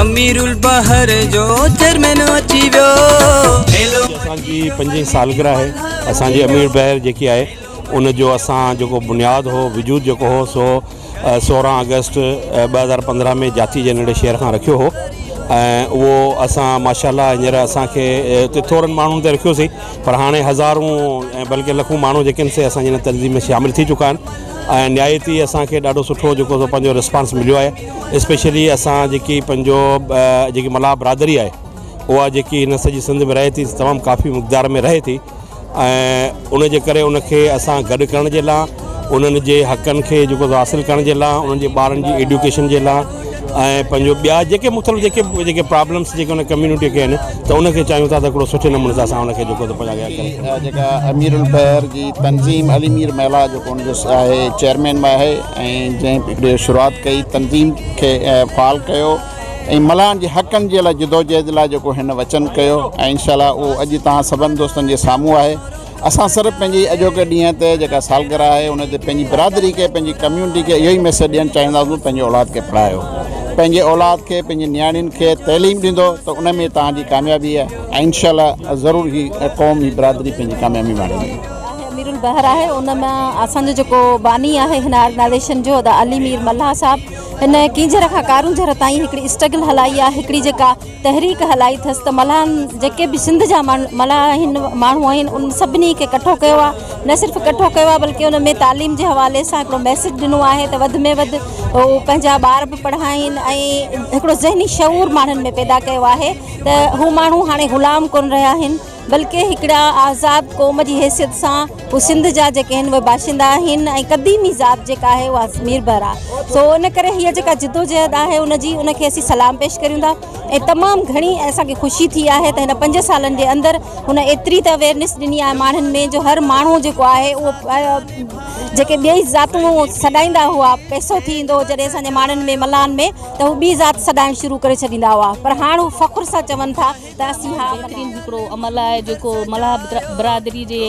امير البحر جو چيئرمين اچي ويو. اسان جي پنجين سالگرهه آهي اسان جي امير بحر جيڪي آهي ان جو اسان جيڪو بنياد هو وجود جيڪو هو سو سورهن آگسٽ ٻه هزار پندرهن ۾ جاتي جي ننڍي شهر کان رکيو هو ۽ اهو اسان ماشاالله هينئر اسانکي اتي ٿورن ماڻهن تي رکيوسين پر هاڻي هزارون ۽ بلڪه لکون ماڻهو جيڪي آهن سي اسان جي هن تنظيم ۾ شامل ٿي چڪا آهن ۽ نهايت ئي اسانکي ڏاڍو سٺو جيڪو سو پنهنجو رسپانس مليو آهي اسپيشلي اسان جيڪي پنهنجو جيڪي ملاح برادري آهي اها جيڪي هن سڄي سنڌ ۾ رهي ٿي تمام ڪافي مقدار ۾ رهي ٿي ۽ ان جي ڪري ان کي اسان گڏ ڪرڻ جي لا انهن جي حقن کي جيڪو حاصل ڪرڻ جي لا انهن جي ٻارن جي ايڊوڪيشن جي لا ۽ پنهنجو ٻيا جيڪي مختلف جيڪي جيڪي پرابلمس جيڪي ان ڪميونٽي کي آهن ته ان کي چاهيون ٿا ته هڪڙو سٺي نموني سان اسان ان کي جيڪو ته پنهنجا جيڪا امير البحر جي تنظيم علي مير ملاح جيڪو ان جو آهي چيئرمين به آهي ۽ جنهن به شروعات ڪئي تنظيم کي فعال ڪيو ۽ ملان جي حقن جي لاء جدوجهد لاء جيڪو هن وچن ڪيو ۽ انشاء الله اهو اڄ توهان سڀن دوستن جي سامهون آهي اسان صرف پنهنجي اڄوڪي ڏينهن تي جيڪا سالگرهه آهي ان تي پنهنجي برادري کي پنهنجي ڪميونٽي کي اهو ئي ميسيج ڏيڻ چاهينداسون پنهنجي اولاد کي پڙهايو پنهنجي اولاد کي پنهنجي نياڻين کي تعليم ڏيندو ته ان ۾ توهان جي ڪاميابي آهي ۽ انشاء الله ضرور هي قوم هي برادري پنهنجي ڪاميابي ماڻيندي امير البحر آهي ان ۾ اسان جو جيڪو باني آهي هن آرگنائزيشن جو ادا علي مير ملاح صاحب هن ڪينجهر کان ڪارونجهر تائين هڪڙي اسٽرگل هلائي آهي هڪڙي جيڪا تحريڪ هلائي ٿس ته ملاح جيڪي به سنڌ جا ملاح آهن ماڻهو آهن ان سڀني کي ڪٺو ڪيو آهي نه صرف ڪٺو ڪيو آهي بلڪه ان ۾ تعليم جي حوالي سان هڪڙو ميسج ڏنو آهي ته وڌ ۾ وڌ هو پنهنجا ٻار به پڙهائين ۽ هڪڙو ذهني شعور ماڻهن ۾ پيدا ڪيو آهي ته هو ماڻهو هاڻي غلام ڪونه رهيا آهن بلڪه هڪڙا آزاد قوم جي حيثيت سان هو سنڌ جا جيڪي هن اهي باشندا آهن ۽ قديمي ذات جيڪا آهي اها ميربحر آهي سو ان ڪري هيء جيڪا جدوجهد آهي ان جي ان کي اسين سلام پيش ڪريون ٿا ۽ تمام گهڻي اسان کي خوشي ٿي آهي ته هن پنج سالن جي اندر هن ايتري ته اويرنس ڏني آهي ماڻهن ۾ جو هر ماڻهو جيڪو آهي اهو جيڪي ٻئي ذاتون سڏائيندا هئا پئسو ٿي ويندو هو جڏهن اسان جي ماڻهن ۾ ملان ۾ ته هو ٻي ذات سڏائڻ شروع ڪري ڇڏيندا هئا پر هاڻ هو فخر سان چون ٿا تحسين هڪ بهترين هڪڙو عمل آهي جيڪو ملاح برادري جي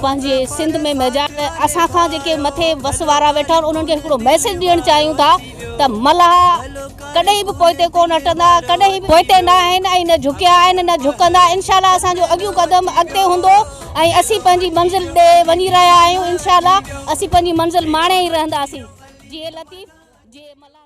پنهنجي سنڌ ۾ ميجار اسان کان جيڪي مٿي وس وارا ويٺا آهن انهن کي هڪڙو ميسج ڏيڻ چاهيون ٿا ته ملاح ڪڏهن به پوئتي ڪو نه هٽندا ڪڏهن به پوئتي نه آهن ۽ نه جهڪيا آهن نه جهڪندا انشاء الله اسان جو اڳيون قدم اڳتي هوندو ۽ اسين پنهنجي منزل ڏي وڃي رهيا آهيون انشاء الله اسين پنهنجي منزل ماڻي ئي رهنداسين جي لطيف جي ملاح